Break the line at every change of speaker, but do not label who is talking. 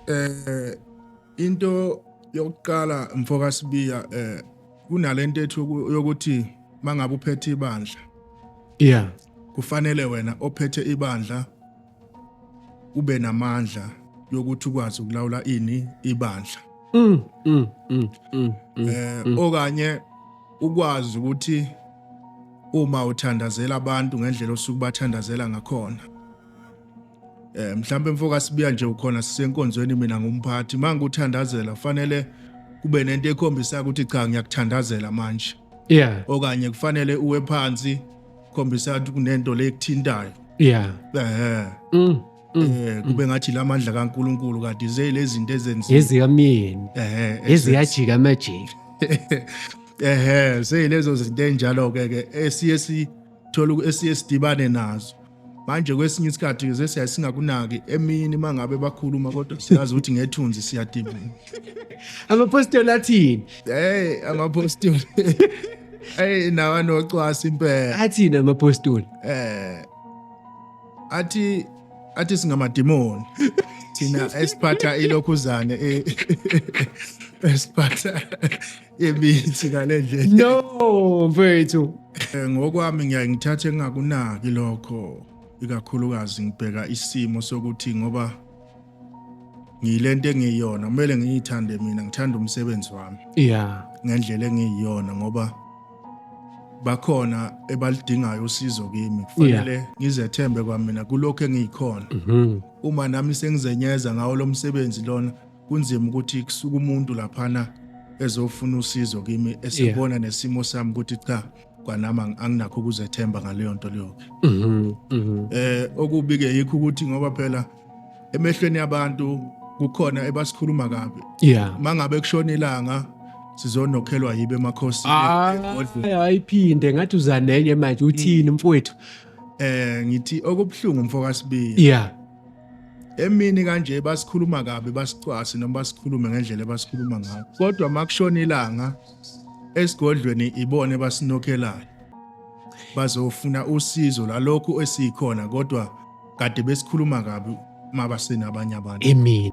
eh into yokuqala mfoka Sibiya eh kunalento ethi yokuthi mangabe uphethe ibandla yeah
kufanele
wena ophethe ibandla ube namandla yokuthi ukwazi ukulawula ini ibandla mm, mm, mm, mm, mm, eh mm. okanye ukwazi ukuthi uma uthandazela abantu ngendlela osuke bathandazela ngakhona Eh mhlambe mfoka sibiya nje ukhona sisenkonzweni mina ngumphathi manje uthandazela fanele kube nento ekhombisa ukuthi cha ngiyakuthandazela manje. Yeah. Okanye
kufanele
uwe phansi khombisa ukuthi kunento lekuthintayo. Yeah.
Eh. Mm. Mm.
eh kube ngathi lamandla kaNkuluNkulu kade ze lezinto ezenziwa ezika myeni eh
eziyajika amajika ehe
seyilezo zinto enjalo ke ke esiye si thola esiye sidibane nazo manje kwesinye isikhathi ze siyaye singakunaki emini uma ngabe bakhuluma kodwa siyazi ukuthi ngethunzi siyadibana
amapostoli athini hey amapostoli
hey nawa nocwasa impela athini amapostoli
eh
athi athi singamadimoni thina esiphatha ilokhuzane eh, esiphatha yemithi ngale ndlela no
mfethu Eh, ngokwami
ngiyaye ngithathe engakunaki lokho ikakhulukazi ngibheka isimo sokuthi ngoba ngiyilento engiyiyona kumele ngiyithande mina ngithanda umsebenzi wami yeah ngendlela
engiyiyona
ngoba bakhona ebalidingayo usizo kimi kufanele ngizethembe kwamina kulokho engiyikhona Mhm. uma nami sengizenyeza ngawo lo msebenzi lona kunzima ukuthi kusuka umuntu laphana ezofuna usizo kimi esebona yeah. nesimo sami ukuthi cha kwanami anginakho ukuzethemba ngaleyo nto leyoke mm -hmm, mm -hmm. eh okubi-ke yikho ukuthi ngoba phela emehlweni yabantu kukhona ebasikhuluma kabi yeah mangabe
kushona ilanga
sizonokhelwa yibe emakhosini
ayiphinde ngathi uzanenye manje uthini mm. mfowethu eh ngithi
okubuhlungu mfokasibili yeah
emini
kanje basikhuluma kabi basicwasi noma basikhulume ngendlela ebasikhuluma ngayo kodwa makushona ilanga esigodlweni ibone basinokhelayo bazofuna usizo lalokhu esikhona kodwa kade besikhuluma kabi mabaseni abanye abantu emini